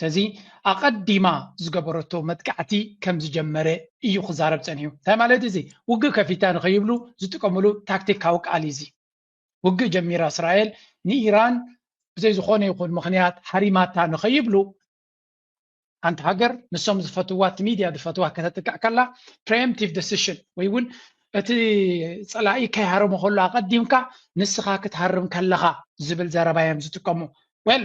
ሰዚ ኣቐዲማ ዝገበረቶ መጥቃዕቲ ከም ዝጀመረ እዩ ክዛረብ ጸኒሑ። እንታይ ማለት እዚ ውግእ ከፊታ ንኸይብሉ ዝጥቀምሉ ታክቲካዊ ቃል እዩ እዚ። ውግእ ጀሚራ እስራኤል ንኢራን ብዘይ ዝኾነ ይኹን ምኽንያት ሃሪማታ ንኸይብሉ ሓንቲ ሃገር ንሶም ዝፈትዋ እቲ ሚድያ ዝፈትዋ ከተጥቅዕ ከላ ፕሬምቲቭ ደሲሽን ወይ እውን እቲ ፀላኢ ከይሃረሙ ከሎ ኣቐዲምካ ንስኻ ክትሃርም ከለኻ ዝብል ዘረባ እዮም ዝጥቀሙ ወል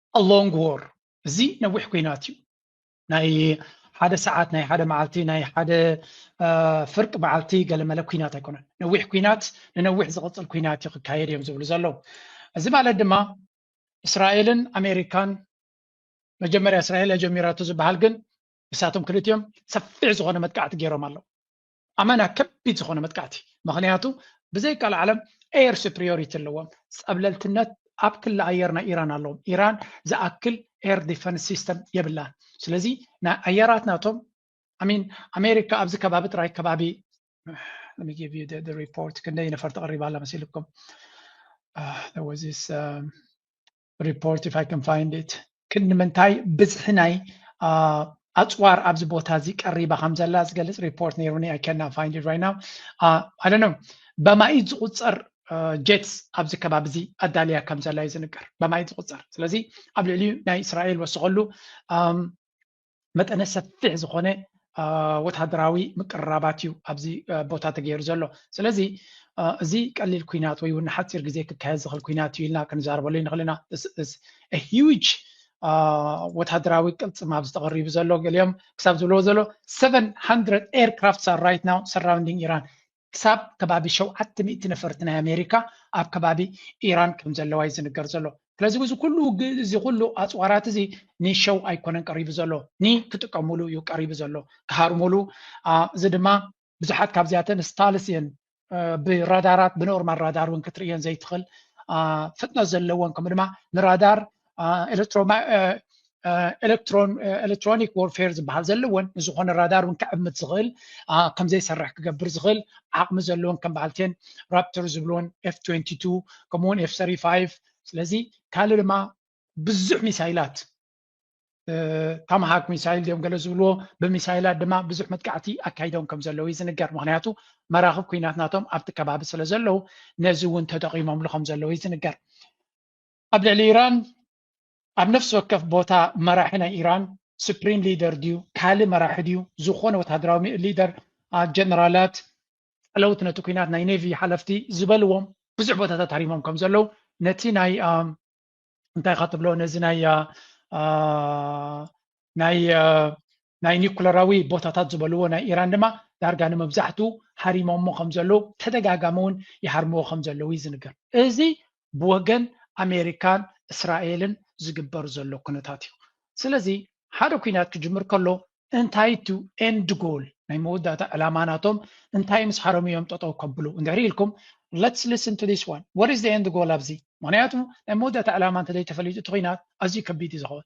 a long war እዚ ነዊሕ ኩናት እዩ ናይ ሓደ ሰዓት ናይ ሓደ መዓልቲ ናይ ሓደ ፍርቂ መዓልቲ ገለመለ ኩናት ኣይኮነን ነዊሕ ኩናት ንነዊሕ ዝቕፅል ኩናት እዩ ክካየድ እዮም ዝብሉ ዘለዉ እዚ ማለት ድማ እስራኤልን ኣሜሪካን መጀመርያ እስራኤል ጀሚራቱ ዝበሃል ግን ንሳቶም ክልቲኦም ሰፊሕ ዝኾነ መጥቃዕቲ ገይሮም ኣለዉ ኣመና ከቢድ ዝኾነ መጥቃዕቲ ምኽንያቱ ብዘይካል ዓለም ኤየር ሱፕሪዮሪቲ ኣለዎም ፀብለልትነት ኣብ ክሊ ኣየር ናይ ኢራን ኣለዎም ኢራን ዝኣክል ኤር ዲፈንስ ሲስተም የብላን ስለዚ ናይ ኣየራት ናቶም ኣሚን ኣሜሪካ ኣብዚ ከባቢ ጥራይ ከባቢ ሪፖርት ክንደይ ነፈርቲ ቀሪባ ኣላ መሲልኩም ወዚስ ሪፖርት ኢፍ ኣይ ካን ፋይንድ ኢት ክንዲ ምንታይ ብዝሒ ናይ ኣፅዋር ኣብዚ ቦታ እዚ ቀሪባ ከም ዘላ ዝገልፅ ሪፖርት ነይሩኒ ኣይ ካና ፋይንድ ኢት ራይት ናው ኣይ ዶንት ኖ በማኢት ዝቁፀር ጀትስ ኣብዚ ከባቢ እዚ ኣዳልያ ከም ዘላ እዩ ዝንገር በማኢት ዝቁፀር ስለዚ ኣብ ልዕሊኡ ናይ እስራኤል ወስኸሉ መጠነ ሰፊሕ ዝኾነ ወታደራዊ ምቅርራባት እዩ ኣብዚ ቦታ ተገይሩ ዘሎ ስለዚ እዚ ቀሊል ኩናት ወይ እውን ሓፂር ግዜ ክካየድ ዝኽእል ኩናት እዩ ኢልና ክንዛረበሉ ይንኽእል ኢና ሂውጅ ወታደራዊ ቅልፅም ኣብ ዝተቐሪቡ ዘሎ ገሊኦም ክሳብ ዝብለዎ ዘሎ 700 ኤርክራፍትስ ኣር ራይት ናው ሰራውንዲንግ ኢራን ክሳብ ከባቢ ሸውዓተ ሚእቲ ነፈርቲ ናይ ኣሜሪካ ኣብ ከባቢ ኢራን ከም ዘለዋ እዩ ዝንገር ዘሎ። ስለዚ እዚ ኩሉ ውግእ እዚ ኩሉ ኣጽዋራት እዚ ንሸው ኣይኮነን ቀሪቡ ዘሎ ን ክጥቀሙሉ እዩ ቀሪቡ ዘሎ ክሃርሙሉ እዚ ድማ ብዙሓት ካብዚኣተን ስታልስ እየን ብራዳራት ብኖርማል ራዳር እውን ክትርእየን ዘይትኽእል ፍጥነት ዘለዎን ከምኡ ድማ ንራዳር ኤሌክትሮኒክ ዎርፌር ዝበሃል ዘለዎን ንዝኾነ ራዳር እውን ክዕምት ዝኽእል ከምዘይሰርሕ ክገብር ዝኽእል ዓቕሚ ዘለዎን ከም በዓል ቴን ራፕተር ዝብሎን ኤፍ 22 ከምኡውን ኤፍ 35 ስለዚ ካልእ ድማ ብዙሕ ሚሳይላት ታማሃክ ሚሳይል ድዮም ገለ ዝብልዎ ብሚሳይላት ድማ ብዙሕ መጥቃዕቲ ኣካይዶም ከም ዘለዉ እዩ ዝንገር ምክንያቱ መራኽብ ኩናት ናቶም ኣብቲ ከባቢ ስለ ዘለዉ ነዚ እውን ተጠቂሞምሉ ከም ዘለዉ እዩ ዝንገር ኣብ ልዕሊ ኢራን ኣብ ነፍሲ ወከፍ ቦታ መራሒ ናይ ኢራን ሱፕሪም ሊደር ድዩ ካልእ መራሒ ድዩ ዝኾነ ወተሃደራዊ ሊደር ጀነራላት ጸለውቲ ነቲ ኩናት ናይ ኔቪ ሓለፍቲ ዝበልዎም ብዙሕ ቦታታት ሃሪሞም ከም ዘለዉ ነቲ ናይ እንታይ ኢኻ ትብሎ ነዚ ናይ ናይ ኒኩለራዊ ቦታታት ዝበልዎ ናይ ኢራን ድማ ዳርጋ ንመብዛሕትኡ ሃሪሞሞ ከም ዘለዉ ተደጋጋሚ እውን ይሃርምዎ ከም ዘለዉ እዩ ዝንገር። እዚ ብወገን ኣሜሪካን እስራኤልን ዝግበር ዘሎ ኩነታት እዩ። ስለዚ ሓደ ኲናት ክጅምር ከሎ እንታይ እቱ ኤንድ ጎል ናይ መወዳእታ ዕላማ ናቶም እንታይ ምስ ሃረሙ እዮም ጠጠው ከብሉ እንድሕሪ ኢልኩም let's listen to this one what is the end goal ኣብዚ ምክንያቱ ናይ መወዳእታ ዕላማ እንተዘይተፈሊጡ እቲ ኲናት ኣዝዩ ከቢድ እዩ ዝኸውን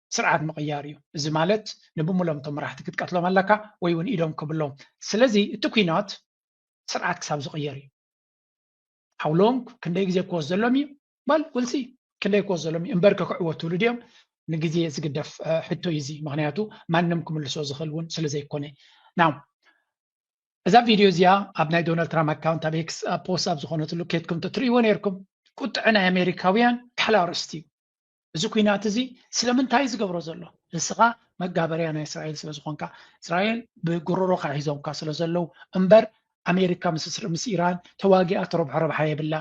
ስርዓት ምቕያር እዩ። እዚ ማለት ንብሙሎም እቶም መራሕቲ ክትቀትሎም ኣለካ ወይ እውን ኢዶም ክብሎም። ስለዚ እቲ ኩናት ስርዓት ክሳብ ዝቕየር እዩ። How long ክንደይ ግዜ ክወስ ዘሎም እዩ? Well we'll see ክንደይ ክወስ ዘሎም እዩ እምበር ከክዕወትሉ ድዮም ንግዜ ዝግደፍ ሕቶ እዩ እዚ ምክንያቱ ማንም ክምልሶ ዝኽእል እውን ስለ ዘይኮነ ናው እዛ ቪድዮ እዚኣ ኣብ ናይ ዶናልድ ትራምፕ ኣካውንት ኣብ ኤክስ ፖስት ኣብ ዝኾነትሉ ኬትኩም ተትርእይዎ ነይርኩም ቁጥዐ ናይ ኣሜሪካውያን ካሕላ ኣርእስቲ እዩ እዚ ኩናት እዚ ስለምንታይ ዝገብሮ ዘሎ ንስኻ መጋበርያ ናይ እስራኤል ስለ ዝኾንካ እስራኤል ብጉሮሮካ ሒዞምካ ስለ ዘለዉ እምበር ኣሜሪካ ምስ ኢራን ተዋጊኣ ትረብሖ ረብሓ የብላ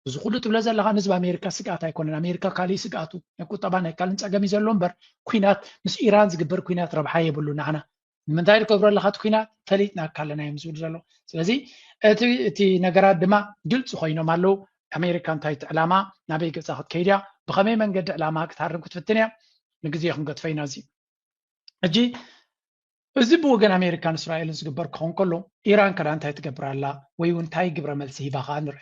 እዚ ኩሉ ትብለ ዘለካ ንህዝቢ ኣሜሪካ ስግኣት ኣይኮነን ኣሜሪካ ካሊእ ስግኣቱ ናይ ቁጠባ ናይ ካልእን ፀገም እዩ ዘሎ እምበር ኩናት ምስ ኢራን ዝግበር ኩናት ረብሓ የብሉ ንዓና ንምንታይ ትገብሮ ኣለካ እቲ ኩናት ፈሊጥናካ ኣለና እዮም ዝብሉ ዘለዉ ስለዚ እቲ እቲ ነገራት ድማ ግልፂ ኮይኖም ኣለዉ ኣሜሪካ እንታይ እቲ ዕላማ ናበይ ገፃ ክትከይድ እያ ብከመይ መንገዲ ዕላማ ክትሃርም ክትፍትን እያ ንግዜ ክንገትፎ ኢና እዚ ሕጂ እዚ ብወገን ኣሜሪካን እስራኤልን ዝግበር ክኸውን ከሎ ኢራን ከዳ እንታይ ትገብር ኣላ ወይ እውን እንታይ ግብረ መልሲ ሂባ ከዓ ንርአ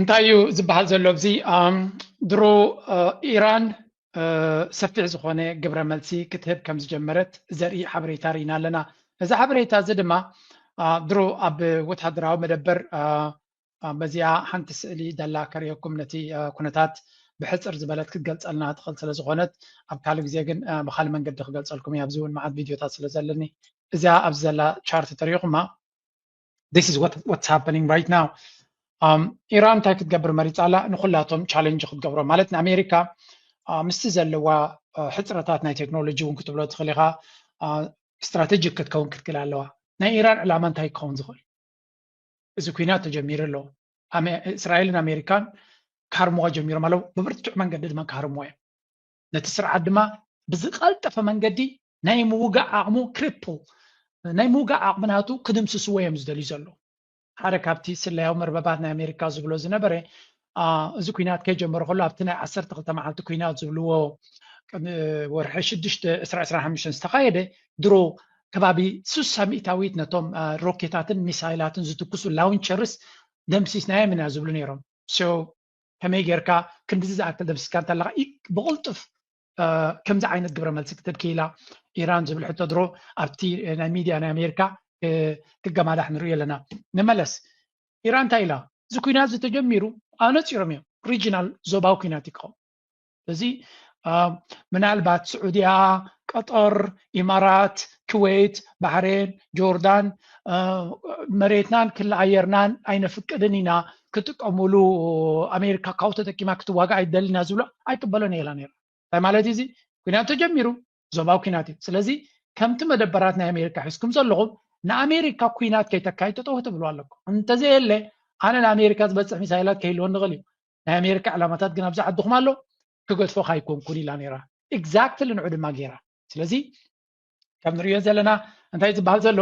እንታይ እዩ ዝበሃል ዘሎ ኣብዚ ድሮ ኢራን ሰፊሕ ዝኾነ ግብረ መልሲ ክትህብ ከም ዝጀመረት ዘርኢ ሓበሬታ ርኢና ኣለና እዚ ሓበሬታ እዚ ድማ ድሮ ኣብ ወተሃደራዊ መደበር በዚኣ ሓንቲ ስእሊ ደላ ከርእየኩም ነቲ ኩነታት ብሕፅር ዝበለት ክትገልፀልና ትኽእል ስለ ዝኾነት ኣብ ካልእ ግዜ ግን ብካልእ መንገዲ ክገልፀልኩም እያ ኣብዚ እውን መዓት ቪድዮታት ስለ ዘለኒ እዚኣ ኣብዚ ዘላ ቻርት ተሪኢኹማ this is what what's happening right now ኢራን እንታይ ክትገብር መሪፃ ኣላ ንኩላቶም ቻለንጅ ክትገብሮ ማለት ንኣሜሪካ ምስቲ ዘለዋ ሕፅረታት ናይ ቴክኖሎጂ እውን ክትብሎ ትኽእል ኢኻ ስትራቴጂክ ክትከውን ክትክእል ኣለዋ ናይ ኢራን ዕላማ እንታይ ክኸውን ዝኽእል እዚ ኩናት ተጀሚሩ ኣሎ እስራኤልን ኣሜሪካን ክሃርምዎ ጀሚሮም ኣለዉ ብብርቱዕ መንገዲ ድማ ክሃርምዎ እዮም ነቲ ስርዓት ድማ ብዝቀልጠፈ መንገዲ ናይ ምውጋእ ዓቕሙ ክሪፕል ናይ ምውጋእ ዓቕሚ ናቱ ክድምስስዎ እዮም ዝደልዩ ዘለዉ ሓደ ካብቲ ስለያዊ መርበባት ናይ ኣሜሪካ ዝብሎ ዝነበረ እዚ ኩናት ከይጀመረ ከሎ ኣብቲ ናይ ዓሰርተ ክልተ መዓልቲ ኩናት ዝብልዎ ወርሒ ሽዱሽተ ዕስራ ዕስራ ሓሙሽተን ዝተኻየደ ድሮ ከባቢ ስሳ ሚእታዊት ነቶም ሮኬታትን ሚሳይላትን ዝትኩሱ ላውንቸርስ ደምሲስናዮም ኢና ዝብሉ ነይሮም ከመይ ጌርካ ክንድዚ ዝኣክል ደምሲስካ እንተለካ ብቕልጡፍ ከምዚ ዓይነት ግብረ መልሲ ክትህብ ክኢላ ኢራን ዝብል ሕቶ ድሮ ኣብቲ ናይ ሚድያ ናይ ኣሜሪካ ክገማዳሕ ንሪኦ ኣለና ንመለስ ኢራን እንታይ ኢላ እዚ ኩናት እዚ ተጀሚሩ ኣነፂሮም እዮም ሪጂናል ዞባዊ ኩናት እዩ ክኸውን እዚ ምናልባት ስዑድያ ቀጠር ኢማራት ክወይት ባሕሬን ጆርዳን መሬትናን ክሊ ኣየርናን ኣይነፍቅድን ኢና ክጥቀምሉ ኣሜሪካ ካብኡ ተጠቂማ ክትዋጋእ ኣይደልን እያ ዝብሎ ኣይቅበሎን እየላ ነይራ እንታይ ማለት እዚ ኩናት ተጀሚሩ ዞባዊ ኩናት እዩ ስለዚ ከምቲ መደበራት ናይ ኣሜሪካ ሒዝኩም ዘለኹም ንኣሜሪካ ኩናት ከይተካይድ ጠጠው ትብሉ ኣለኩም እንተዘየለ ኣነ ንኣሜሪካ ዝበፅሕ ሚሳይላት ከይህልወ ንኽእል እዩ ናይ ኣሜሪካ ዕላማታት ግን ኣብዚ ዓድኹም ኣሎ ክገድፎ ካይኮንኩን ኢላ ነይራ ኤግዛክትሊ ንዑ ድማ ገይራ ስለዚ ከም ንሪኦ ዘለና እንታይ ዝበሃል ዘሎ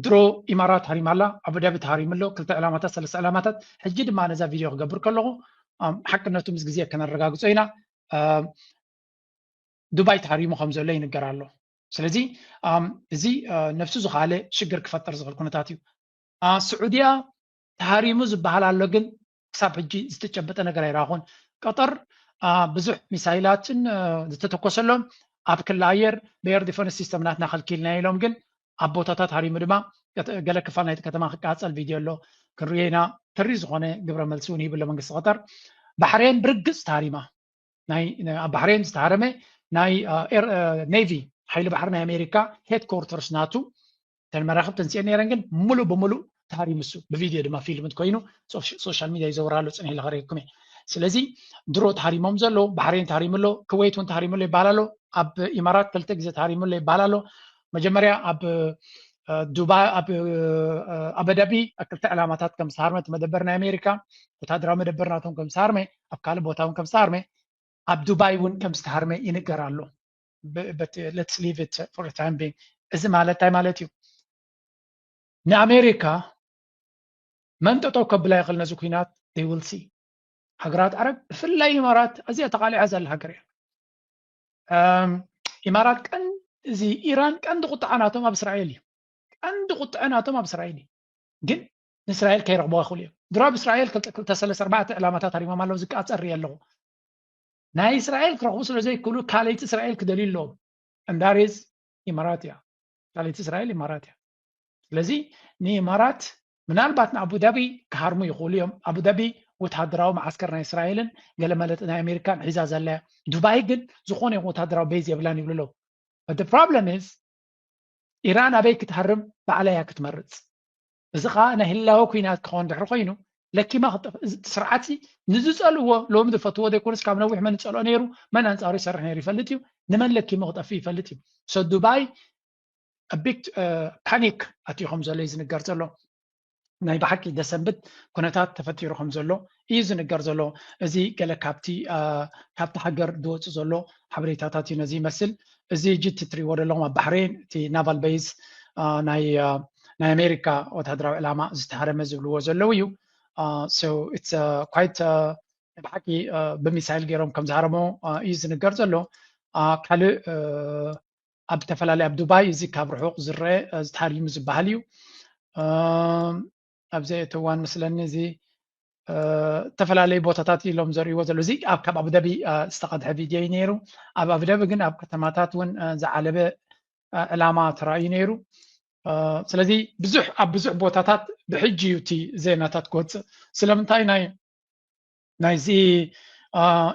ድሮ ኢማራት ሃሪማ ኣላ ኣቡዳቢ ተሃሪሙ ኣሎ ክልተ ዕላማታት ሰለስተ ዕላማታት ሕጂ ድማ ነዛ ቪድዮ ክገብር ከለኹ ሓቅነቱ ምስ ግዜ ከነረጋግፆ ኢና ዱባይ ተሃሪሙ ከም ዘሎ ይንገር ኣሎ ስለዚ እዚ ነፍሱ ዝኸኣለ ሽግር ክፈጥር ዝኽእል ኩነታት እዩ ስዑድያ ተሃሪሙ ዝበሃል ኣሎ ግን ክሳብ ሕጂ ዝተጨበጠ ነገር ኣይረኣኹን። ቀጠር ብዙሕ ሚሳይላትን ዝተተኮሰሎም ኣብ ክሊ ኣየር ብኤር ዲፈንስ ሲስተም ናትና ከልኪልና ኢሎም ግን ኣብ ቦታታት ሃሪሙ ድማ ገለ ክፋል ናይቲ ከተማ ክቃፀል ቪድዮ ኣሎ ክንሪኦ ኢና ተሪር ዝኾነ ግብረ መልሲ እውን ሂብሎ መንግስቲ ቀጠር ባሕሬን ብርግፅ ተሃሪማ ናይ ኣብ ባሕሬን ዝተሃረመ ናይ ኔቪ ሓይሊ ባሕሪ ናይ ኣሜሪካ ሄድኮርተርስ ናቱ እተን መራኽብ ተንሲኤን ነይረን ግን ሙሉእ ብሙሉእ ታሪ ምሱ ብቪድዮ ድማ ፊልምት ኮይኑ ሶሻል ሚዲያ ይዘውር ኣሎ ፅንሒ ለኸሪኩም እየ ስለዚ ድሮ ተሃሪሞም ዘሎ ባሕሬን ተሃሪሙ ኣሎ ክወይት እውን ተሃሪሙ ኣሎ ይበሃል ኣሎ ኣብ ኢማራት ክልተ ግዜ ተሃሪሙ ኣሎ ይበሃል ኣሎ መጀመርያ ኣብ ዱባይ ኣብ ኣበዳቢ ክልተ ዕላማታት ከም ዝተሃርመ እቲ መደበር ናይ ኣሜሪካ ወታደራዊ መደበር ናቶም ከም ዝተሃርመ ኣብ ካልእ ቦታ እውን ከም ዝተሃርመ ኣብ ዱባይ እውን ከም ዝተሃርመ ይንገር ኣሎ በት ሌትስ ሊቭ ኢት ፎር ዘ ታይም ቢንግ እዚ ማለት እንታይ ማለት እዩ ንኣሜሪካ መን ጠጠው ከብላ ይኽእል ነዚ ኩናት they will see ሃገራት ዓረብ ብፍላይ ኢማራት ኣዝያ ተቓሊዓ ዘላ ሃገር እያ ኢማራት ቀን እዚ ኢራን ቀንዲ ቁጥዓ ናቶም ኣብ እስራኤል እዩ ቀንዲ ቁጥዐ ናቶም ኣብ እስራኤል እዩ ግን ንእስራኤል ከይረኽቦ ይኽእሉ እዮም ድሮ ኣብ እስራኤል ክልተ ሰለስተ ኣርባዕተ ዕላማታት ኣሪሞም ኣለዉ ዝቃፀር እየ ኣለኹ ናይ እስራኤል ክረኽቡ ስለ ዘይክእሉ ካልይቲ እስራኤል ክደልዩ ኣለዎም ዕንዳሬዝ ኢማራት እያ ካልይቲ እስራኤል ኢማራት እያ ስለዚ ንኢማራት ምናልባት ንኣቡዳቢ ክሃርሙ ይኽእሉ እዮም ኣቡዳቢ ወተሃደራዊ መዓስከር ናይ እስራኤልን ገለ መለጥ ናይ ኣሜሪካን ሒዛ ዘላ እያ ዱባይ ግን ዝኾነ ይኹን ወተሃደራዊ ቤዝ የብላን ይብሉ ኣለዉ ፕሮብለም ኢዝ ኢራን ኣበይ ክትሃርም ባዕላ እያ ክትመርፅ እዚ ከዓ ናይ ህላወ ኩናት ክኾን ድሕሪ ኮይኑ ለኪማ ክጠፍእ እዚ ስርዓት ንዝፀልዎ ሎሚ ዝፈትዎ ዘይኮነስ ካብ ነዊሕ መን ዝፀልኦ ነይሩ መን ኣንፃሩ ይሰርሕ ነይሩ ይፈልጥ እዩ ንመን ለኪሙ ክጠፍእ ይፈልጥ እዩ ሶ ዱባይ ቢግ ፓኒክ ኣትዩ ከም ዘሎ እዩ ዝንገር ዘሎ ናይ ብሓቂ ደሰንብት ኩነታት ተፈጢሩ ከም ዘሎ እዩ ዝንገር ዘሎ። እዚ ገለ ካብቲ ካብቲ ሃገር ዝወጽእ ዘሎ ሓበሬታታት እዩ ነዚ ይመስል። እዚ ሕጂ እቲ እትሪእዎ ዘለኹም ኣብ ባሕሬን እቲ ናቫል በይዝ ናይ ናይ ኣሜሪካ ወተሃደራዊ ዕላማ ዝተሃረመ ዝብልዎ ዘለዉ እዩ። ሶ ኢትስ ኳይት ብሓቂ ብሚሳይል ገይሮም ከም ዝሃረሞ እዩ ዝንገር ዘሎ። ካልእ ኣብ ዝተፈላለየ ኣብ ዱባይ እዚ ካብ ርሑቕ ዝረአ ዝተሃርዩ ዝበሃል እዩ። ኣብ ዘየእተዋን መስለኒ እዚ ዝተፈላለዩ ቦታታት ኢሎም ዘርእይዎ ዘሎ እዚ ኣብ ካብ ኣቡዳቢ ዝተቐድሐ ቪድዮ እዩ ነይሩ ኣብ ኣቡዳቢ ግን ኣብ ከተማታት እውን ዝዓለበ ዕላማ ተራእዩ ነይሩ ስለዚ ብዙሕ ኣብ ብዙሕ ቦታታት ብሕጂ እዩ እቲ ዜናታት ክወፅእ ስለምንታይ ናይ ናይዚ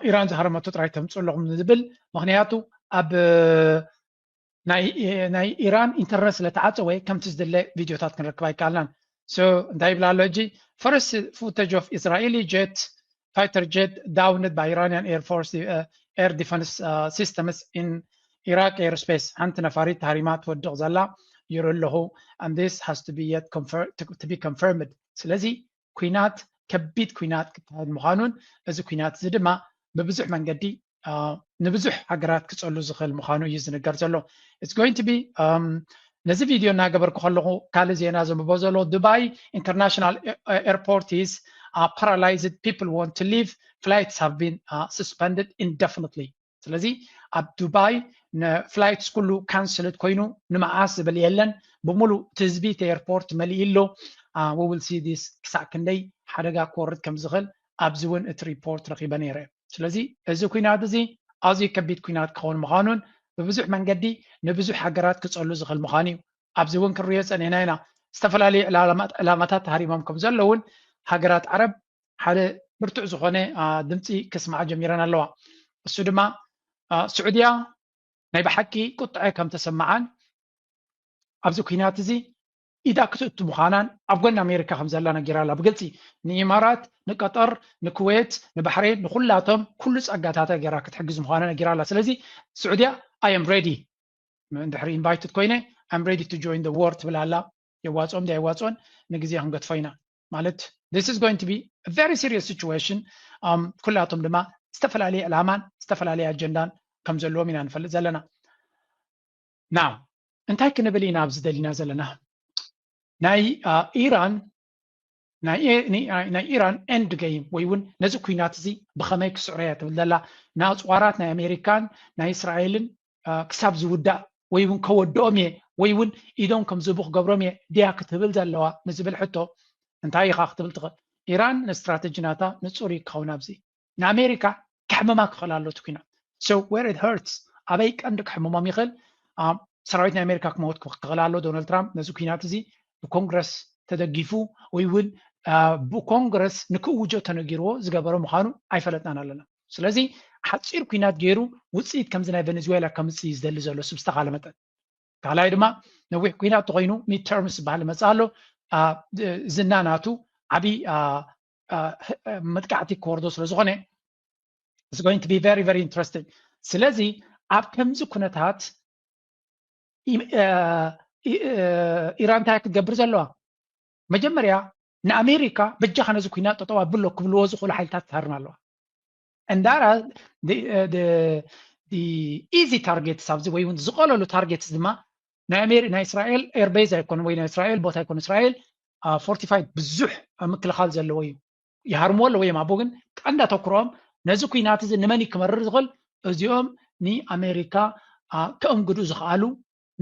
ኢራን ዝሃረመቶ ጥራይ ተምፅእ ኣለኹም ዝብል ምክንያቱ ኣብ ናይ ኢራን ኢንተርነት ስለ ተዓፀወ ከምቲ ዝድለ ቪድዮታት ክንረክብ ኣይከኣልናን ሶ እንታይ ይብላ ኣሎ ሕጂ ፈርስት ፉተጅ ኦፍ እስራኤሊ ጀት ፋይተር ጀት ዳውንድ ባይ ኢራንያን ኤር ፎርስ ኤር ዲፈንስ ሲስተምስ ኢን ኢራቅ ኤር ስፔስ ሓንቲ ነፋሪት ታሪማ ትወድቕ ዘላ ይርኢ ኣለኹ and this has to be yet to be confirmed ስለዚ ኩናት ከቢድ ኩናት ክካየድ ምዃኑን እዚ ኩናት እዚ ድማ ብብዙሕ መንገዲ ንብዙሕ ሃገራት ክፀሉ ዝኽእል ምዃኑ እዩ ዝንገር ዘሎ ኢትስ ጎይንግ ቱ ቢ ነዚ ቪድዮ እናገበርኩ ከለኹ ካልእ ዜና ዘንብቦ ዘሎ ዱባይ ኢንተርናሽናል ኤርፖርት ኢዝ ፓራላይዝድ ፒፕል ወንት ቱ ሊቭ ፍላይትስ ሃቭ ቢን ስስፐንድድ ኢንደፍኒትሊ ስለዚ ኣብ ዱባይ ንፍላይትስ ኩሉ ካንስልት ኮይኑ ንመዓስ ዝብል የለን ብምሉእ እቲ ህዝቢ እቲ ኤርፖርት መሊኡ ኣሎ ውብል ሲ ዲስ ክሳዕ ክንደይ ሓደጋ ክወርድ ከም ዝኽእል ኣብዚ እውን እቲ ሪፖርት ረኺበ ነይረ ስለዚ እዚ ኩናት እዚ ኣዝዩ ከቢድ ኩናት ክኸውን ምዃኑን ብብዙሕ መንገዲ ንብዙሕ ሃገራት ክጸሉ ዝኽእል ምዃኑ እዩ ኣብዚ እውን ክንሪኦ ጸኒሕና ኢና ዝተፈላለዩ ዕላማታት ሃሪሞም ከም ዘለውን ሃገራት ዓረብ ሓደ ብርቱዕ ዝኾነ ድምፂ ክስምዓ ጀሚረን ኣለዋ። እሱ ድማ ስዑድያ ናይ ብሓቂ ቁጥዐ ከም ተሰምዓን ኣብዚ ኩናት እዚ ኢዳ ክትእቱ ምዃናን ኣብ ጎኒ ኣሜሪካ ከም ዘላ ነጊራ ኣላ ብግልፂ ንኢማራት ንቀጠር ንኩዌት ንባሕሬን ንኩላቶም ኩሉ ፀጋታታ ገይራ ክትሕግዝ ምዃና ነጊራ ኣላ ስለዚ ስዑድያ ኣየም ሬዲ ድሕሪ ኢንቫይትድ ኮይነ ኣም ሬዲ ቱ ጆይን ደ ዎር ትብል ኣላ የዋፅኦም ዶ ኣይዋፅኦን ንግዜ ክንገድፎ ኢና ማለት this is going to be a very serious situation um, ኩላቶም ድማ ዝተፈላለየ ዕላማን ዝተፈላለየ ኣጀንዳን ከም ዘለዎም ኢና ንፈልጥ ዘለና ና እንታይ ክንብል ኢና ኣብዚ ደሊና ዘለና ናይ ኢራን ናይ ኢራን ኤንድ ገይም ወይ እውን ነዚ ኩናት እዚ ብኸመይ ክስዕሮ እያ ትብል ዘላ ንኣፅዋራት ናይ ኣሜሪካን ናይ እስራኤልን ክሳብ ዝውዳእ ወይ እውን ከወድኦም እየ ወይ እውን ኢዶም ከም ዝህቡ ክገብሮም እየ ድያ ክትብል ዘለዋ ንዝብል ሕቶ እንታይ ኢኻ ክትብል ትኽእል? ኢራን ንስትራተጂ ናታ ንጹር እዩ ክኸውን ኣብዚ ንኣሜሪካ ከሕምማ ክኽእል ኣሎ እቲ ኩናት so where it hurts ኣበይ ቀንዲ ከሕምሞም ይኽእል ሰራዊት ናይ ኣሜሪካ ክመውት ክኽእል ኣሎ ዶናልድ ትራምፕ ነዚ ኩናት እዚ ብኮንግረስ ተደጊፉ ወይ እውን ብኮንግረስ ንክእውጆ ተነጊርዎ ዝገበረ ምዃኑ ኣይፈለጥናን ኣለና ስለዚ ሓፂር ኩናት ገይሩ ውፅኢት ከምዚ ናይ ቬኔዙዌላ ከምፅእ እዩ ዝደሊ ዘሎ ስብ ዝተኻለ መጠን ካልኣይ ድማ ነዊሕ ኩናት ተኮይኑ ሚድ ተርምስ ዝበሃል ይመፅእ ኣሎ ዝና ናቱ ዓብዪ መጥቃዕቲ ክወርዶ ስለዝኾነ is going to be very very interesting ስለዚ ኣብ ከምዚ ኩነታት ኢራን እንታይ ክትገብር ዘለዋ መጀመርያ ንኣሜሪካ በጃኻ ነዚ ኩናት ጠጠው ኣብሎ ክብልዎ ዝኽእሉ ሓይልታት ትሃርም ኣለዋ እንዳራ ኢዚ ታርጌትስ ኣብዚ ወይ እውን ዝቐለሉ ታርጌትስ ድማ ናይ እስራኤል ኤርቤዝ ኣይኮነ ወይ ናይ እስራኤል ቦታ ኣይኮነ እስራኤል ፎርቲፋይድ ብዙሕ ምክልኻል ዘለዎ እዩ ይሃርምዎ ኣለዎ እዮም ኣቦ ግን ቀንዳ ተኩሮኦም ነዚ ኩናት እዚ ንመን ክመርር ዝኽእል እዚኦም ንኣሜሪካ ከእንግዱ ዝኽኣሉ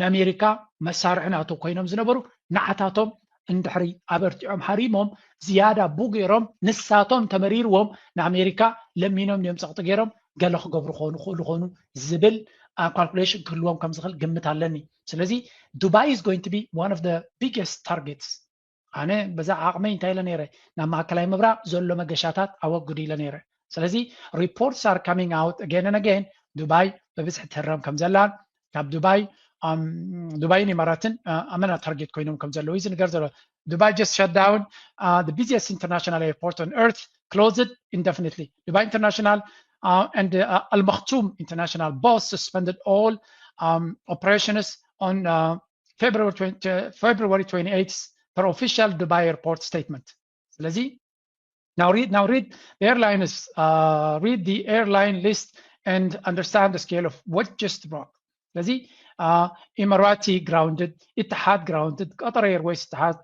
ንኣሜሪካ መሳርሒ ናቱ ኮይኖም ዝነበሩ ንዓታቶም እንድሕሪ ኣበርቲዖም ሃሪሞም ዝያዳ ቡ ገይሮም ንሳቶም ተመሪርዎም ንኣሜሪካ ለሚኖም ድዮም ፀቕጢ ገይሮም ገለ ክገብሩ ክኾኑ ክእሉ ኾኑ ዝብል ካልኩሌሽን ክህልዎም ከም ዝኽእል ግምት ኣለኒ ስለዚ ዱባይ ኢዝ ጎይንግ ቱ ቢ ዋን ኦፍ ቢገስት ታርጌትስ ኣነ በዛ ዓቕመይ እንታይ ኢለ ነይረ ናብ ማእከላይ ምብራቕ ዘሎ መገሻታት ኣወግዱ ኢለ ነይረ ስለዚ ሪፖርትስ ኣር ካሚንግ ኣውት ኣገን ን ኣገን ዱባይ ብብዝሒ ትህረም ከም ዘላን ካብ ዱባይ ዱባይን ኢማራትን ኣመና ታርጌት ኮይኖም ከም ዘለዉ እዩ ዝንገር ዘሎ ዱባይ ጀስት ሸት ዳውን ቢዚስት ኢንተርናሽናል ኤርፖርት ኦን ኤርት ክሎዝድ ኢንደፊኒትሊ ዱባይ ኢንተርናሽናል uh, and uh, Al Maktoum International both suspended all um, operations on uh, ፌብሪ 28 ፐር ኦፊሻል ዱባይ ኤርፖርት ስቴትመንት ስለዚ Now read, now read the airline is uh, read the airline list and understand the scale of what just broke. ስለዚ ኢማራቲ ግራውንድድ ኢትሓድ ግራውንድድ ቀጠር ኤርዌይስ ኢትሓድ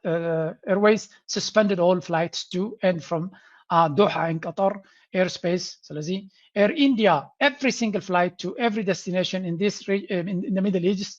ኤርዌይስ ስስፐንድድ ኦል ፍላይትስ ቱ ኤንድ ፍሮም ዶሓ ን ቀጠር ኤር ስፔስ ስለዚ ኤር ኢንዲያ ኤቭሪ ሲንግል ፍላይት ቱ ኤቭሪ ደስቲኔሽን ኢን ዲስ ኢን ሚድል ኢስት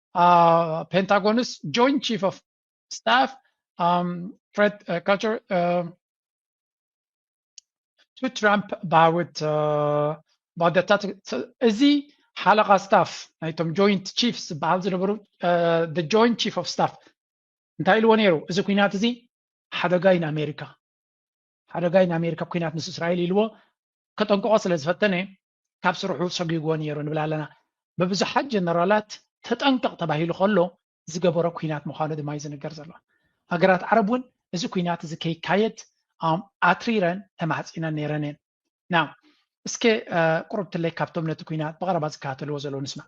ፔንታጎንስ ጆይንት ቺፍ ኦፍ ስታፍ ፍሬድ ካልቸር ቱ ትራምፕ ባውት ባደታት እዚ ሓለቓ ስታፍ ናይቶም ጆይንት ቺፍስ ዝበሃል ዝነበሩ ጆይንት ቺፍ ኦፍ ስታፍ እንታይ ኢልዎ ነይሩ እዚ ኩናት እዚ ሓደጋ እዩ ንኣሜሪካ ሓደጋይ ንኣሜሪካ ኲናት ምስ እስራኤል ኢልዎ ከጠንቅቖ ስለ ዝፈተነ ካብ ስርሑ ሰጒግዎ ነይሩ ንብል ኣለና። ብብዙሓት ጀነራላት ተጠንቀቕ ተባሂሉ ከሎ ዝገበሮ ኲናት ምዃኑ ድማ'ዩ ዝንገር ዘሎ። ሃገራት ዓረብ እውን እዚ ኲናት እዚ ከይካየድ ኣትሪረን ተማሕጺነን ነይረን እየን። ናው እስከ ቁሩብ ትለይ ካብቶም ነቲ ኲናት ብቐረባ ዝከታተልዎ ዘለዉ ንስማዕ።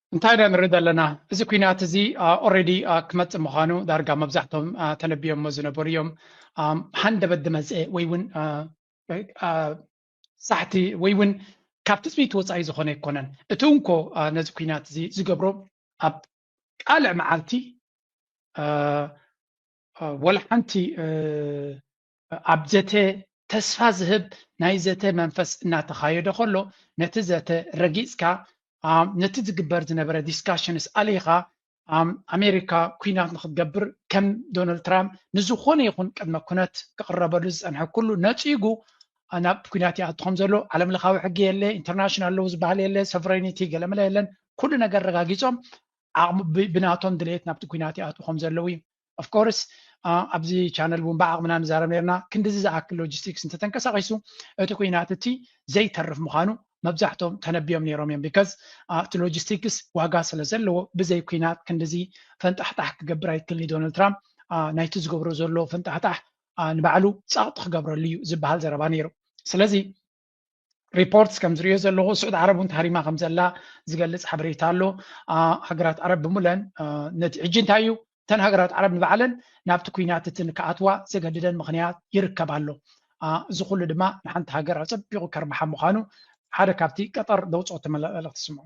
እንታይ ኢና ንርኢ ዘለና እዚ ኩናት እዚ ኦሬዲ ክመፅእ ምዃኑ ዳርጋ መብዛሕቶም ተነቢዮሞ ዝነበሩ እዮም ሃንደበት ዝመፀ ወይ እውን ሳሕቲ ወይ እውን ካብ ትፅቢት ወፃኢ ዝኾነ ኣይኮነን እቲ እንኮ ነዚ ኩናት እዚ ዝገብሮ ኣብ ቃልዕ መዓልቲ ወላ ሓንቲ ኣብ ዘተ ተስፋ ዝህብ ናይ ዘተ መንፈስ እናተኻየደ ከሎ ነቲ ዘተ ረጊጽካ ነቲ ዝግበር ዝነበረ ዲስካሽንስ ኣለይኻ ኣሜሪካ ኩናት ንክትገብር ከም ዶናልድ ትራምፕ ንዝኾነ ይኹን ቅድመ ኩነት ክቕረበሉ ዝፀንሐ ኩሉ ነፂጉ ናብ ኩናት ይኣቱ ከም ዘሎ ዓለም ለኻዊ ሕጊ የለ ኢንተርናሽናል ለው ዝበሃል የለ ሶቨሬኒቲ ገለመለ የለን ኩሉ ነገር ረጋጊፆም ዓቕሚ ብናቶም ድሌት ናብቲ ኩናት ይኣትዉ ከም ዘለዉ እዩ of course ኣብዚ ቻነል እውን ብዓቕምና ንዛረብ ነይርና ክንድዚ ዝኣክል ሎጂስቲክስ እንተተንቀሳቒሱ እቲ ኩናት እቲ ዘይተርፍ ምዃኑ መብዛሕቶም ተነቢዮም ነይሮም እዮም ቢካዝ እቲ ሎጂስቲክስ ዋጋ ስለ ዘለዎ ብዘይ ኩናት ክንድዚ ፈንጣሕጣሕ ክገብር ኣይክልኒ ዶናልድ ትራምፕ ናይቲ ዝገብሮ ዘሎ ፈንጣሕጣሕ ንባዕሉ ጸቕጢ ክገብረሉ እዩ ዝበሃል ዘረባ ነይሩ ስለዚ ሪፖርትስ ከም ዝሪኦ ዘለኹ ስዑድ ዓረብ እውን ተሃሪማ ከም ዘላ ዝገልፅ ሓበሬታ ኣሎ ሃገራት ዓረብ ብምለን ነቲ ሕጂ እንታይ እዩ እተን ሃገራት ዓረብ ንባዕለን ናብቲ ኩናት እቲ ንክኣትዋ ዘገድደን ምክንያት ይርከብ ኣሎ እዚ ኩሉ ድማ ንሓንቲ ሃገር ኣፀቢቑ ከርብሓ ምዃኑ ሓደ ካብቲ ቀጠር ዘውፅኦ ተመላለኽቲ ስምዑ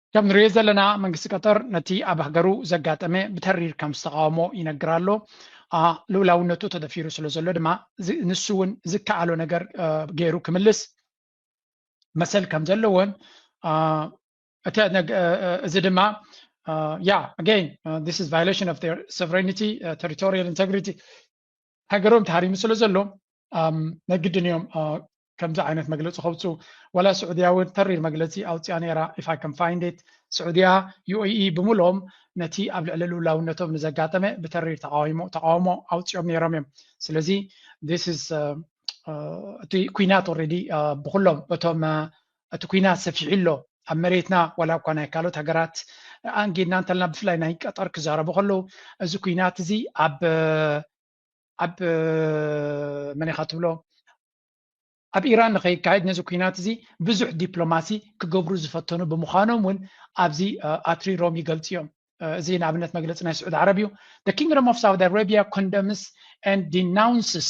ከም ንርእዮ ዘለና መንግስቲ ቀጠር ነቲ ኣብ ሃገሩ ዘጋጠመ ብተሪር ከም ዝተቃወሞ ይነግር ኣሎ። ልኡላውነቱ ተደፊሩ ስለ ዘሎ ድማ ንሱ እውን ዝከኣሎ ነገር ገይሩ ክምልስ መሰል ከም ዘለዎን እዚ ድማ ያ ኣገይን ዚስ ኢዝ ቫዮሌሽን ኦፍ ዜር ሶቨሬኒቲ ተሪቶሪያል ኢንተግሪቲ ሃገሮም ተሃሪሙ ስለ ዘሎ ነግድን እዮም ከምዚ ዓይነት መግለፂ ከውፅኡ ዋላ ስዑድያ እውን ተሪር መግለፂ ኣውፅያ ነይራ ኢፍ ኣይ ከም ፋይንዴት ስዑድያ ዩኤኢ ብምሎም ነቲ ኣብ ልዕሊ ልውላውነቶም ንዘጋጠመ ብተሪር ተቃዊሞ ተቃውሞ ኣውፅኦም ነይሮም እዮም ስለዚ ስ እቲ ኩናት ኦረዲ ብኩሎም እቶም እቲ ኩናት ሰፊሑ ኣሎ ኣብ መሬትና ዋላ እኳ ናይ ካልኦት ሃገራት ኣንጊድና እንተልና ብፍላይ ናይ ቀጠር ክዛረቡ ከለዉ እዚ ኩናት እዚ ኣብ ኣብ መን ኢኻ ትብሎ ኣብ ኢራን ንኸይካየድ ነዚ ኩናት እዚ ብዙሕ ዲፕሎማሲ ክገብሩ ዝፈተኑ ብምዃኖም እውን ኣብዚ ኣትሪሮም ይገልፁ እዮም እዚ ንኣብነት መግለፂ ናይ ስዑድ ዓረብ እዩ the kingdom of saudi arabia condemns and denounces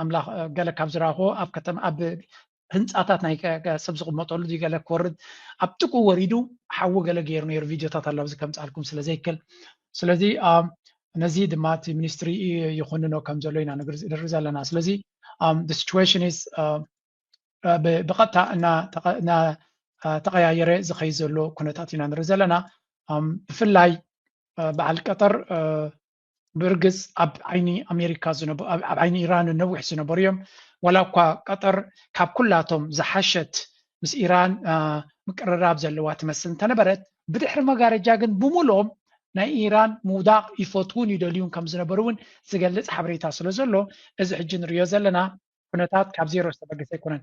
ኣምላኽ ገለ ካብ ዝረኣኹዎ ኣብ ከተማ ኣብ ህንፃታት ናይ ሰብ ዝቕመጠሉ ድዩ ገለ ክወርድ ኣብ ጥቁ ወሪዱ ሓዊ ገለ ገይሩ ነይሩ ቪድዮታት ኣሎ ኣብዚ ከምፃልኩም ስለ ዘይክል ስለዚ ነዚ ድማ እቲ ሚኒስትሪ ይኹንኖ ከም ዘሎ ኢና ንርኢ ዘለና ስለዚ ሲቹዌሽን ኢዝ ብቐጥታ እናተቐያየረ ዝኸይ ዘሎ ኩነታት ኢና ንርኢ ዘለና ብፍላይ በዓል ቀጠር ብርግፅ ኣብ ዓይኒ ኣሜሪካ ኣብ ዓይኒ ኢራን ነዊሕ ዝነበሩ እዮም ዋላ እኳ ቀጠር ካብ ኩላቶም ዝሓሸት ምስ ኢራን ምቅርራብ ዘለዋ ትመስል እንተነበረት ብድሕሪ መጋረጃ ግን ብምሉኦም ናይ ኢራን ምውዳቕ ይፈትውን ይደልዩን ከም ዝነበሩ እውን ዝገልፅ ሓበሬታ ስለ ዘሎ እዚ ሕጂ ንሪኦ ዘለና ኩነታት ካብ ዜሮ ዝተበገሰ ኣይኮነን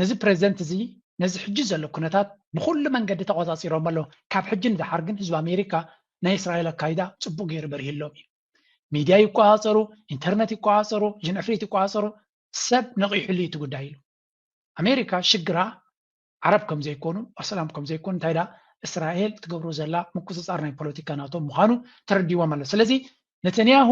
ነዚ ፕረዚደንት እዚ ነዚ ሕጂ ዘሎ ኩነታት ብኹሉ መንገዲ ተቖጻጺሮሞ ኣሎ። ካብ ሕጂ ንደሓር ግን ህዝቢ ኣሜሪካ ናይ እስራኤል ኣካይዳ ጽቡቕ ገይሩ በሪህሎም እዩ። ሚድያ ይቆጻጸሩ፣ ኢንተርነት ይቆጻጸሩ፣ ጅንዕፍሪት ይቆጻጸሩ ሰብ ነቒሑሉ እዩ እቲ ጉዳይ ኢሉ። ኣሜሪካ ሽግራ ዓረብ ከም ዘይኮኑ ኣስላም ከም ዘይኮኑ እንታይ ደኣ እስራኤል ትገብሮ ዘላ ምቁጽጻር ናይ ፖለቲካ ናቶም ምዃኑ ተረዲዎም ኣሎ። ስለዚ ነተንያሁ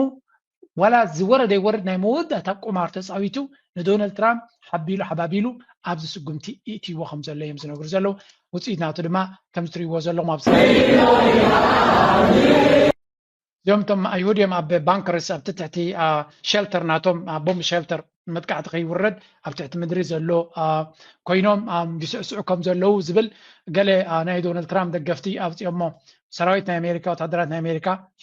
ዋላ ዝወረደ ይወርድ ናይ መወዳእታ ቁማር ተፃዊቱ ንዶናልድ ትራምፕ ሓቢሉ ሓባቢሉ ኣብዚ ስጉምቲ ይእትይዎ ከም ዘሎ እዮም ዝነግሩ ዘለዉ ውፅኢት ናቱ ድማ ከምዚ ትሪእዎ ዘለኹም ኣብ እስራኤል እዚኦም እቶም ኣይሁድ እዮም ኣብ ባንከርስ ኣብቲ ትሕቲ ሸልተር ናቶም ቦምብ ሸልተር መጥቃዕቲ ከይውረድ ኣብ ትሕቲ ምድሪ ዘሎ ኮይኖም ይስዕስዑ ከም ዘለዉ ዝብል ገለ ናይ ዶናልድ ትራምፕ ደገፍቲ ኣውፅኦሞ ሰራዊት ናይ ኣሜሪካ ወታደራት ናይ ኣሜሪካ